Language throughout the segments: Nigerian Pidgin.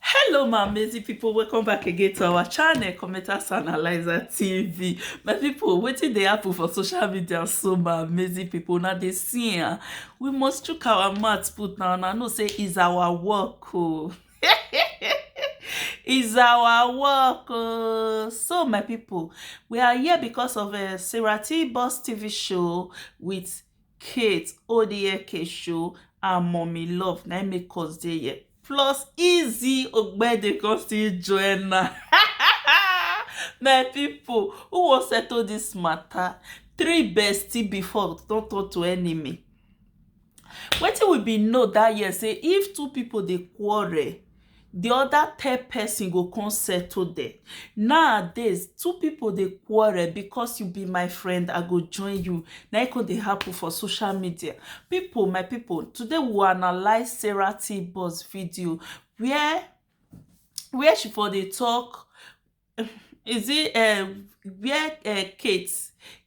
hello my amazing people welcome back again to our channel commenters analyzer tv my people wetin dey happen for social media so my amazing people now they see am ah, we must chook our mouth put now and i know say is our work oh. is our work oh. so my people we are here because of a uh, sarah t boss tv show with Kate Odieke show and Mummy Love na im make us dey here. Plus Easy Ogbede come still join am. My people, who wan settle this matter? Three bestie before don turn to enemy. Wetin we bin know that year say if two people dey quarrel, di oda third pesin go come settle dem nowadays two pipo dey quarrel because you be my friend i go join you na it come dey happen for social media pipo my pipo today we will analyse sarah t boss video where where she for dey talk is it um where um Kate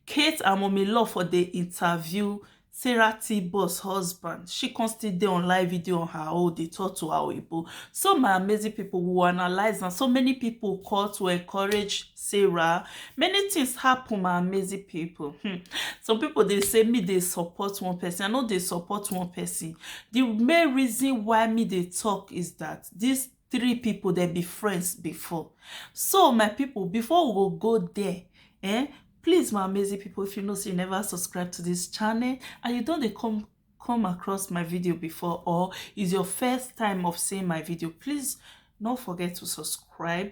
Kate and Mummy Love for dey interview Sarah T-Boss husband. She come still dey on live video on her own, dey talk to her Oyibo. So my amazing people will analyze and so many people call to encourage Sarah. Many things happen, my amazing people. Hmm. Some people dey say me dey support one person. I no dey support one person. The main reason why me dey talk is that this three people dem be friends before so my people before we go go there eh please my amazing people if you know say you never subscribe to this channel and you don't come come across my video before or is your first time of seeing my video please don't forget to subscribe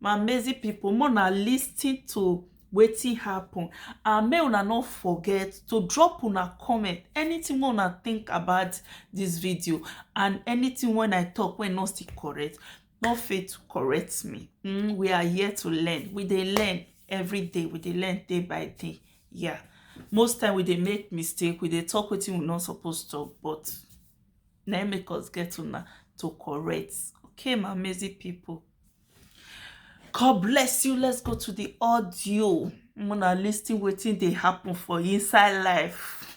my amazing people more na listen to wetin happen and make una no forget to drop una comment anything wey una think about this video and anything when i talk when no still correct no fail to correct me mm, we are here to learn we dey learn every day we dey learn day by day yeah most time we dey make mistake we dey talk wetin we no suppose talk but na make us get una to correct okay my amazing people God bless you. Let's go to the audio. I'm gonna listen wetin dey happen for inside life.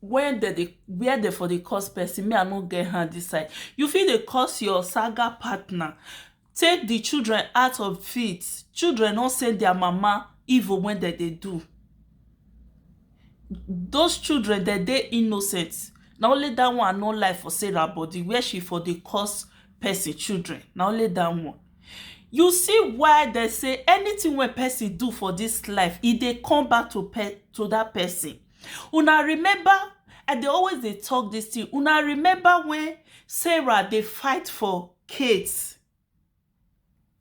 where dem dey where dem for dey curse person me i no get hand this side you fit dey curse your saga partner take the children out of fit children no send their mama evil when dem dey do those children dem dey innocent na only that one i no like for sarah body where she for dey curse person children na only that one you see why dem say anything wey person do for this life e dey come back to pe to that person Una remember, I dey always dey talk this thing. Una remember when Sarah dey fight for Kate?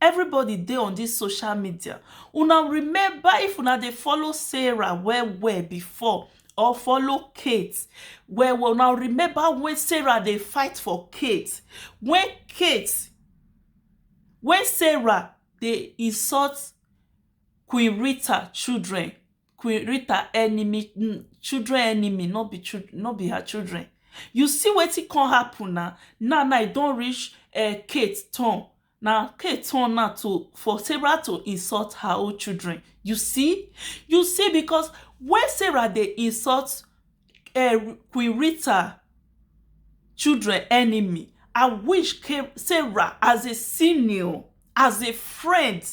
Everybody dey on this social media. Una remember if una dey follow Sarah well well before or follow Kate well well, una remember when Sarah dey fight for Kate? When Kate, when Sarah dey insult Queen Rita children queen rita enemy mm, children enemy no be children no be her children you see wetin come happen na now now e don reach uh, kate turn na kate turn now to for sarah to insult her own children you see you see because when sarah dey insult uh, queen rita children enemy i wish sarah as a senior as a friend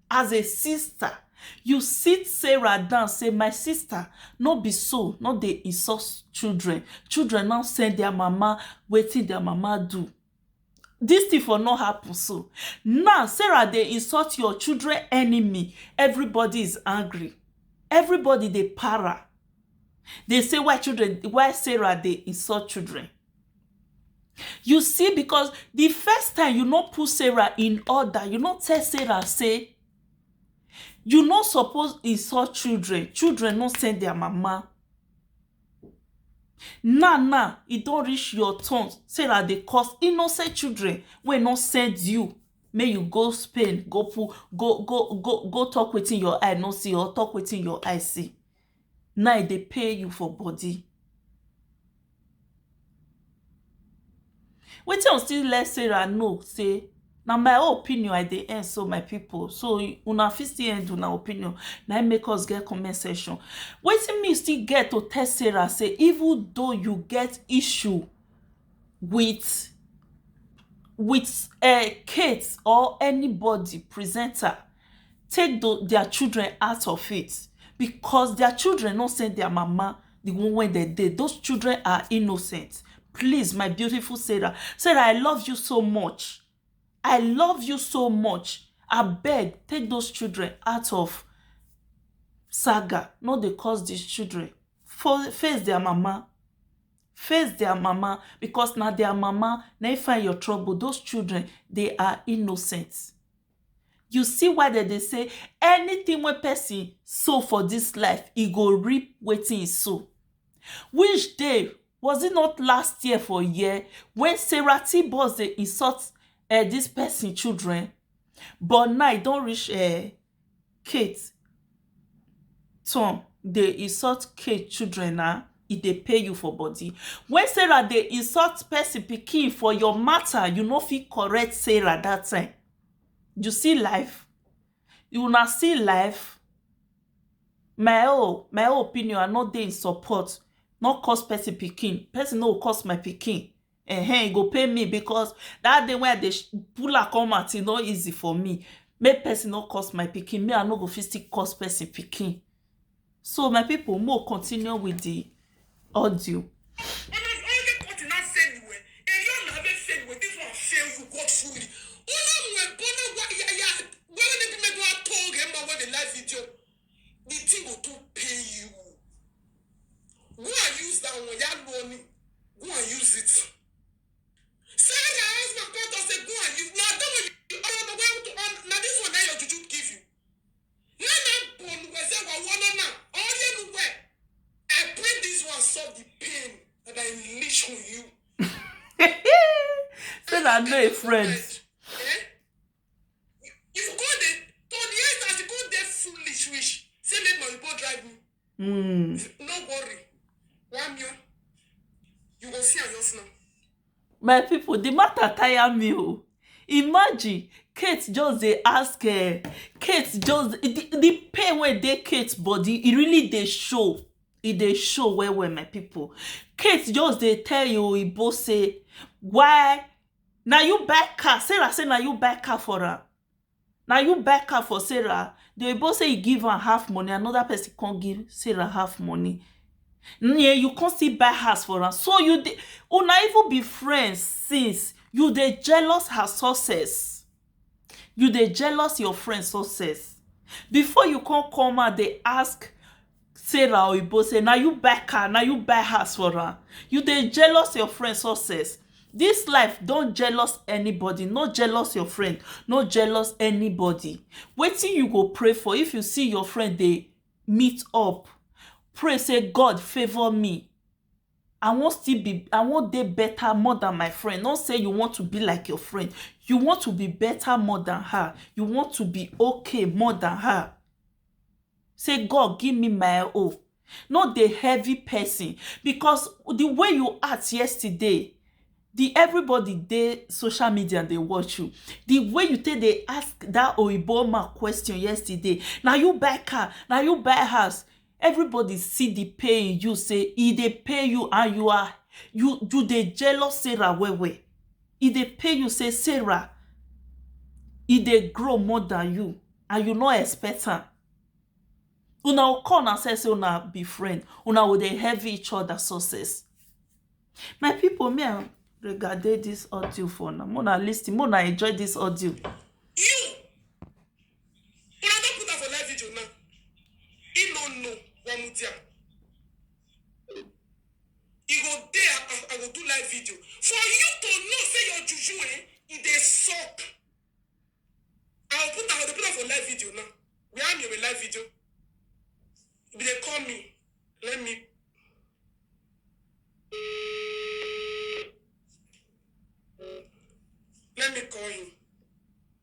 As a sister, you sit Sarah down say, My sister, no be so, no dey insult children. Children now send their mama wetin their mama do. This thing for no happen so. Now, Sarah dey insult your children enemy. Everybody is angry. Everybody dey para. They say why children, why Sarah dey insult children. You see, because the first time you no put Sarah in order, you no tell Sarah, say, you no suppose insult children. Children no send their mama. Now, now, e don reach your turn. Sarah dey cause innocent children wey no send you. May you go Spain, go put, go, go, go, go talk wetin your eye no see or talk wetin your eye see. na e dey pain you for body wetin u still let sarah know say na my own opinion i dey en so my people so una fit still end una opinion na im make us get comment section wetin me still get to tell sarah say even though you get issue with with um Kate or anybody presenter take tho dia children out of it becos dia children no send dia mama di one wey dem dey those children are innocent please my beautiful Sarah Sarah I love you so much I love you so much abeg take those children out of saga no dey cause dis children for face dia mama face dia mama becos na dia mama na im find your trouble those children dey are innocent You see why dem dey say anything wey person sow for this life e go reap wetin e sow which day was it not last year for here wey Sarah T boss dey insult um this person children but now e don reach um Kate turn dey insult Kate children na, e dey pain you for body. When Sarah dey insult person pikin for your matter, you no fit correct Sarah that time. You see life? Una see life? My own, my own opinion, I no dey in support. No curse person pikin. Person no go curse my pikin. um e go pain me because that day wey i dey pull am come out e no easy for me make person no curse my pikin me i no go fit still curse person pikin so my people mo continue with the audio. the thing go too pain you go and use that one ya lu ọ ni go and use it say your husband come talk say go and use na that one you ọmọ ọmọ wa to on na this one na your juju give you na na bonu wẹ sẹ wa wọnọ na ọyẹ nu wẹ I pray this one solve the pain that I unleash on you. say na no a friend. Eh? If you come dey to the end as you come dey foolish reach, say make my oyibo drive me. Mm. No worry, one million. You go see am just now. my people the matter tire me o imagine kate just dey ask uh, kate just the, the pain wey dey kate body e really dey show e dey show well well my people kate just dey tell im oyibo say why Na you buy car, Sarah say na you buy car for am Na you buy car for Sarah The oyibo say e give am half money, another person come give Sarah half money Neh, you come still buy house for am So you dey, una even be friends since You dey jealous her success You dey jealous your friend success before you come come out dey ask Sarah Oyibo say na you buy car, na you buy house for am. You dey jealous your friend success. Dis life don't jealous anybody, no jealous your friend, no jealous anybody. Wetin you go pray for if you see your friend dey meet up, pray say God favour me. I wan still be I wan dey better more than my friend not say you want to be like your friend you want to be better more than her you want to be okay more than her say God give me my own no dey heavy person because the way you act yesterday the everybody dey social media dey watch you the way you take dey ask that oyibo woman question yesterday na you buy car na you buy house Everybody see the pay in you say e dey pay you and you are you you dey jealous Sarah well well. E dey pay you say Sarah e dey grow more than you and you no expect am. Una go call una sef say una be friend, una go dey envy each other success. My people me and Rega dey this audio for una, make una lis ten, make una enjoy this audio. You Una don put am for live video now. He no know one mudia. He go dey I, I, I go do live video for you to know say your juju eh e dey suck. I go put am I go put am for live video now. We am your live video. If they call me, let me. Let me call him.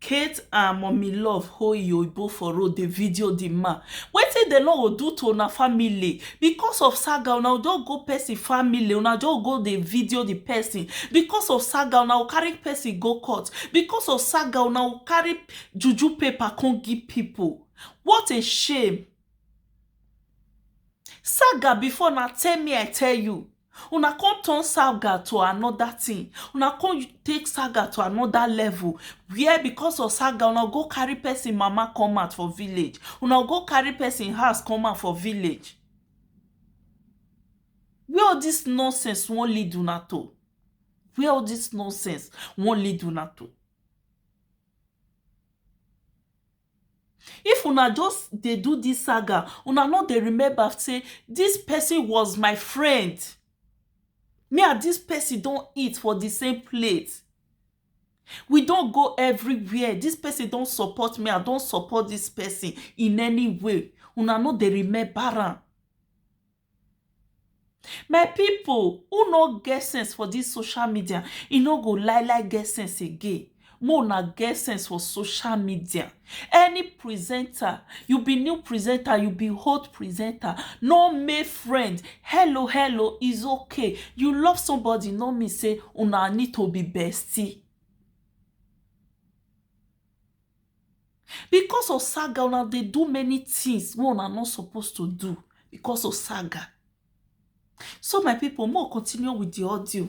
Kate and mummy love hold e oyibo for road dey video the man wetin dem no go do to una family because of saga una go just go person family una just go go dey video the person because of saga una go carry person go court because of saga una go carry juju paper come give people what a shame saga before na tell me I tell you Una come turn saga to another thing una come take saga to another level where because of saga una go carry person mama come out for village una go carry person house come out for village where all this nonsense wan lead una to where all this nonsense wan lead una to If una just dey do dis saga, una no dey remember sey dis pesin was my friend. Me and dis pesin don eat for di same plate. We don go everywhere. Dis pesin don support me, I don support dis pesin in any way. Una no dey remember am. My people who no get sense for this social media e no go lie lie get sense again make una get sense for social media any presenter you be new presenter you be old presenter no make friend hello hello is okay you love somebody no mean say una need to be bestie Because of saga una dey do many things wey una no suppose to do because of saga so my people make we continue with the audio.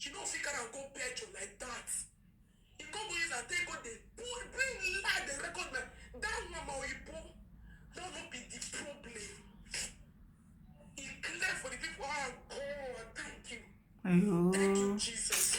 You no fit carry am go petrol like that. You come go use am take go dey pull bring lie dey record my that one my oyibo that no be the problem. E clear for the people ah God thank you thank you Ayo. Jesus.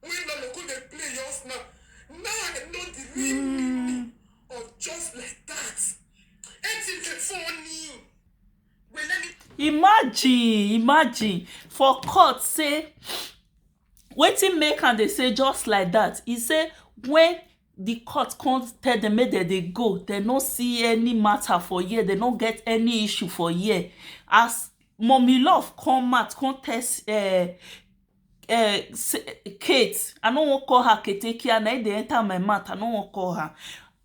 When Lolo go dey play yours now, now I know the real mm. meaning of just like that. Eti dey funny. Well, let me... Imagine, imagine for court say wetin make am dey say just like that. He say when the court come tell them make dem dey go, dem no see any matter for here, dem no get any issue for here. As mommy love come out come tell uh, um Kate, I no wan call her ketekia na im dey enter my mouth, I no wan call her.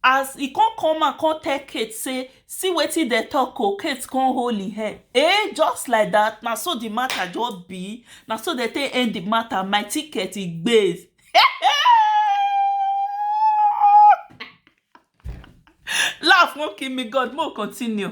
As e come come out come tell Kate say see wetin dem talk o, Kate come hold im head um just like dat na so de matter just be, na so dem take end de matter my ticket e gbe laugh wan kill me God make we continue.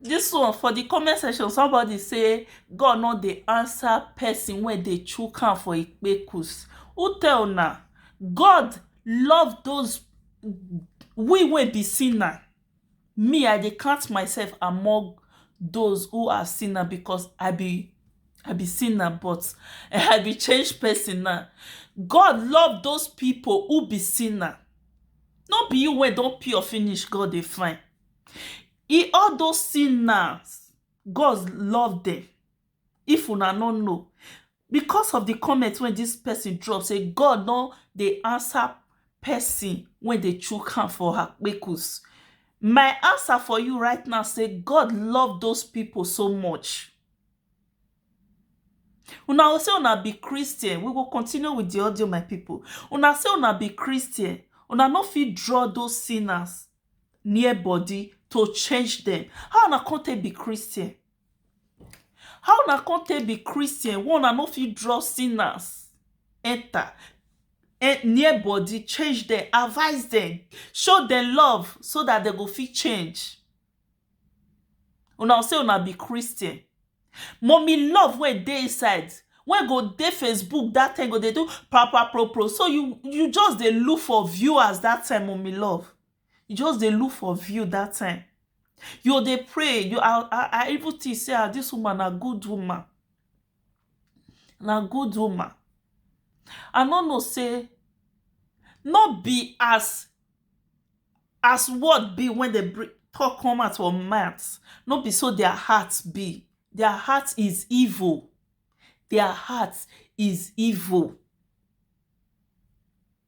This one for the comment section somebody say God no dey answer person wey dey chook am for ikpekus. Who tell una? God love those we wey be sinner. Me I dey count myself among those who are sinner because I be I be sinner but I be changed person now. God love those people who be sinner no be you wey don pure finish God dey find e all those sinners God love them if una no know Because of di comment wey dis pesin drop say God no dey ansa pesin wey dey chook hand for her kpekus, my ansa for you right now say God love those pipo so much. Una go say una be Christian, we go continue with di audio my pipo. Una say una be Christian, una no fit draw those sinners near body to change dem, how una come take be Christian? How una come take be Christian wey una no fit draw sinners enter near body, change dem, advice dem, show dem love so dat dem go fit change? Una go say una be Christian. Mummy love wey dey inside wey go dey Facebook dat time go dey do pra-pra-pro-pro so you you just dey look for viewers dat time mummy love. you just dey look for view that time you dey pray you i i i even think say ah this woman na good woman na good woman i no know say no be as as word be when they bring talk come out for mouth no be so their heart be their heart is evil their heart is evil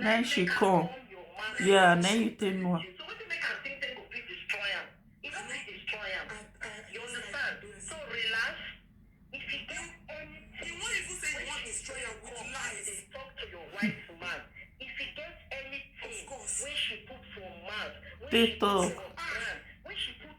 na im she come yeah na im you take know am take talk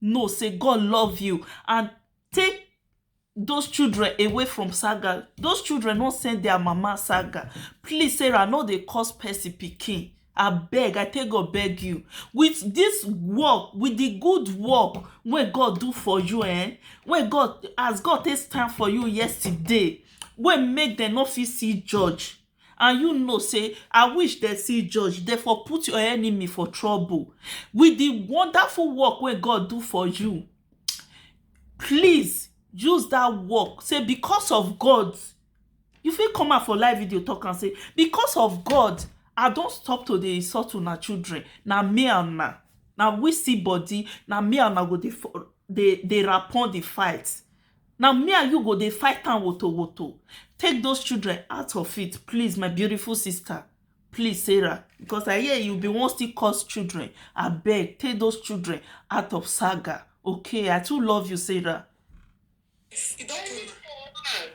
know say God love you and take those children away from saga those children no send their mama saga please sarah no dey cause person pikin abeg i take god beg you with this work with the good work wey god do for you eh wey god as god take stand for you yesterday wey make dem no fit see judge and you know say I wish dem see judge dem for put your enemy for trouble with the wonderful work wey God do for you please use that work say because of God you fit come out for live video talk and say because of God I don't stop to the insult una children Now me and na now we see body Now me and na go the the the rapon the fight Na me and you go dey fight am woto woto take those children out of it please my beautiful sister please Sarah because I hear you be wan still cause children abeg take those children out of saga okay I too love you Sarah. He don Any for woman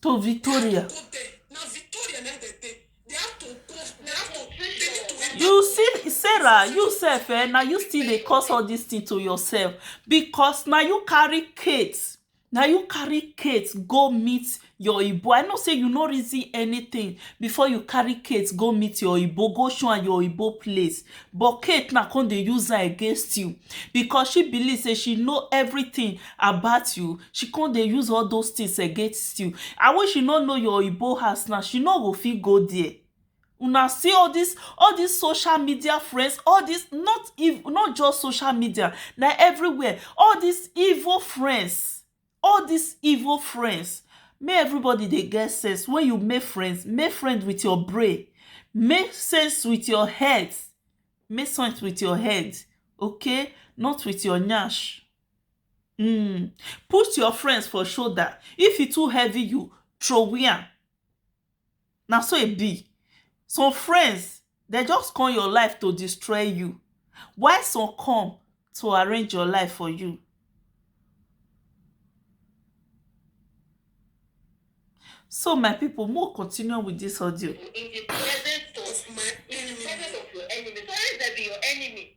to victoria go there na victoria na dem dey they have to go they have to they need to enter you see sarah you sef eh na you still dey cause all this thing to yourself because na you carry kate na you carry kate go meet your oyibo i know say you no reason anything before you carry kate go meet your oyibo go show am your oyibo place But Kate now come dey use her against you because she believe say she know everything about you. She come dey use all those things against you. And when she no know your Igbo house now, she no go fit go there. Una see all this all this social media friends, all this not if not just social media, na everywhere. All these evil friends all dis evil friends make everybody dey get sense when you make friends make friends with your brain make sense with your head make sense with your head okay not with your nyash um put your friends for shoulder if e too heavy you throway am Na so e be some friends dey just come your life to destroy you while some come to arrange your life for you. So my people make we continue with this audio. in the presence of my enemy. In the presence of your enemy. So where is that be your enemy?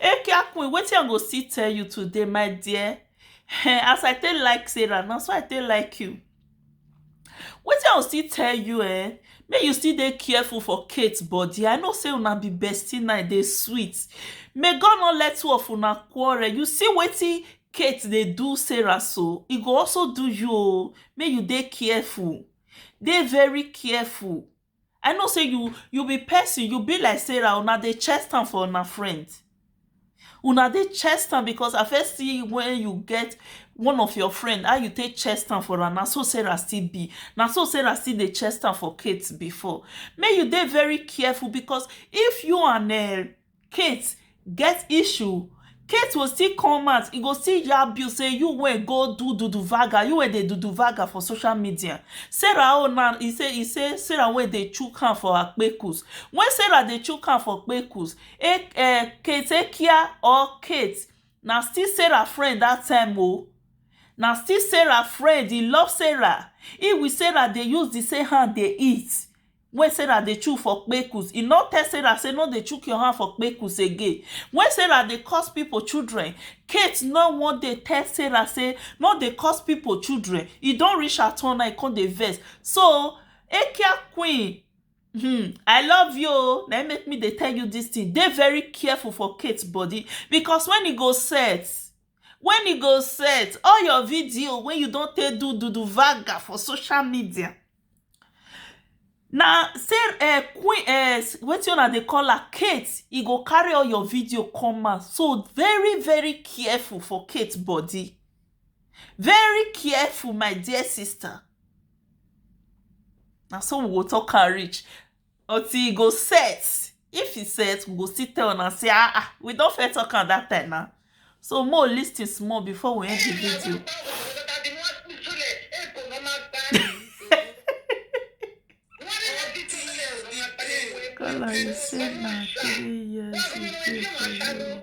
Ekia queen wetin I go still tell you today my dear eh, as I take like Sarah na so I take like you. Wetin I go still tell you eh, make you still dey careful for Kate body. I know say una be bestie now, e dey sweet. May God not let two of una quarrel. You see wetin Kate dey do Sarah so, e go also do you o. Make you dey careful. Dey very careful. I know sey you you be person, you be like Sarah, una dey chest am for una friend. Una dey chest am because I first see when you get one of your friend, how you take chest am for am, na so Sarah still be. Na so Sarah still dey chest am for Kate before. Make you dey very careful because if you and um Kate get issue Kate will still come out e go still yab you say you wey go do duduvaga you wey dey duduvaga for social media Sarah own now e say e say Sarah wey dey chook hand for her kpekus when Sarah dey chook hand for kpekus um Kate Ekia or Kate na still Sarah friend that time oo na still Sarah friend e love Sarah he with Sarah dey use the same hand dey eat Wen Sarah dey chook for kpekus, e nor tell Sarah sey nor dey chook your hand for kpekus again. Wen Sarah dey curse pipo children, Kate nor wan dey tell Sarah sey nor dey curse pipo children. E don reach her turn na, e come dey vex. So, Ekia Queen, hmm, I love you o, na im make me dey tell you dis tin, dey very careful for Kate body, because wen e go set, wen e go set, all your video wey you don take do duduvaga for social media, Na say queen um wetin una dey call am Kate e go carry all your video come out so very very careful for Kate body very careful my dear sister na so we go talk am reach until e go set if e set we go still tell una say ah ah we don first talk am that time na so mo lis ten small before we end the video. Kala you say na three years you dey for you.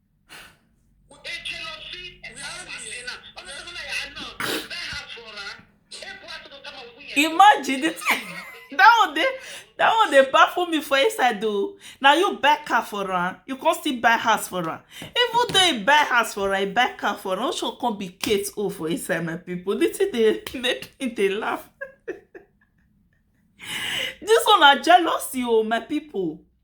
Imagine it. that one dey that one dey baffle me for inside o na you buy car for am you come still buy house for am even though you buy house for am you buy car for am ocean come be kate o for inside my people the thing dey make me dey laugh this one na jealousy o my people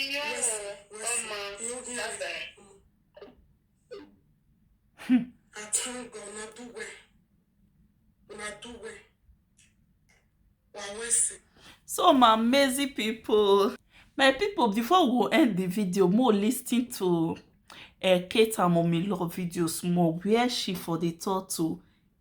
Iyo, ọmọ, bàbá. Atanga una do well. Una do well. Wawese. so my amazing people my people before we go end the video more listening to uh, kate and mommy love video small where she for the thought to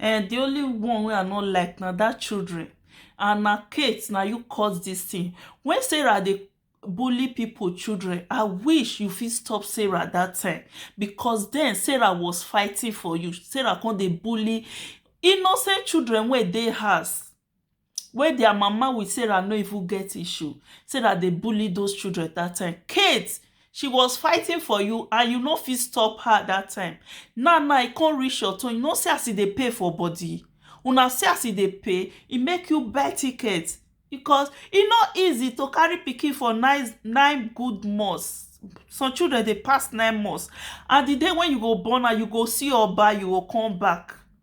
Eeh the only one wey I no like na that children and na Kate na you cause this thing when Sarah dey bully people children I wish you fit stop Sarah that time because then Sarah was fighting for you Sarah come dey bully innocent children wey dey house wey dia mama wit sarah no even get issue sarah dey bully those children dat time kate she was fighting for you and you no fit stop her dat time now now e come reach your turn you no see as e dey pain for body una see as e dey pain e make you buy ticket because e no easy to carry pikin for nine nine good months some children dey pass nine months and di day wey you go born am you go see oba you go come back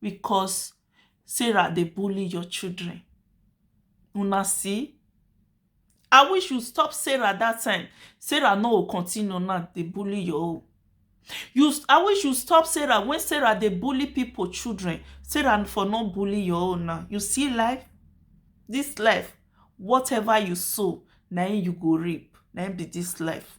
because sarah dey bully your children una see i wish you stop sarah that time sarah no go continue now dey bully your own you i wish you stop sarah when sarah dey bully people children sarah for no bully your own now you see life this life whatever you sow na im you go reap na im be this life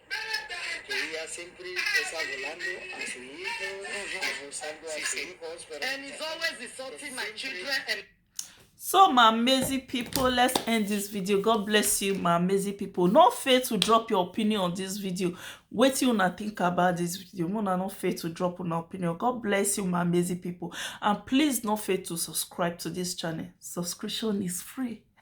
Ella siempre está hablando a su hijo, abusando a sus hijos, pero And he's always insulting my children and so my amazing people let's end this video god bless you my amazing people no fail to drop your opinion on this video Wait till una think about this video una no fail to drop una opinion god bless you my amazing people and please no fail to subscribe to this channel subscription is free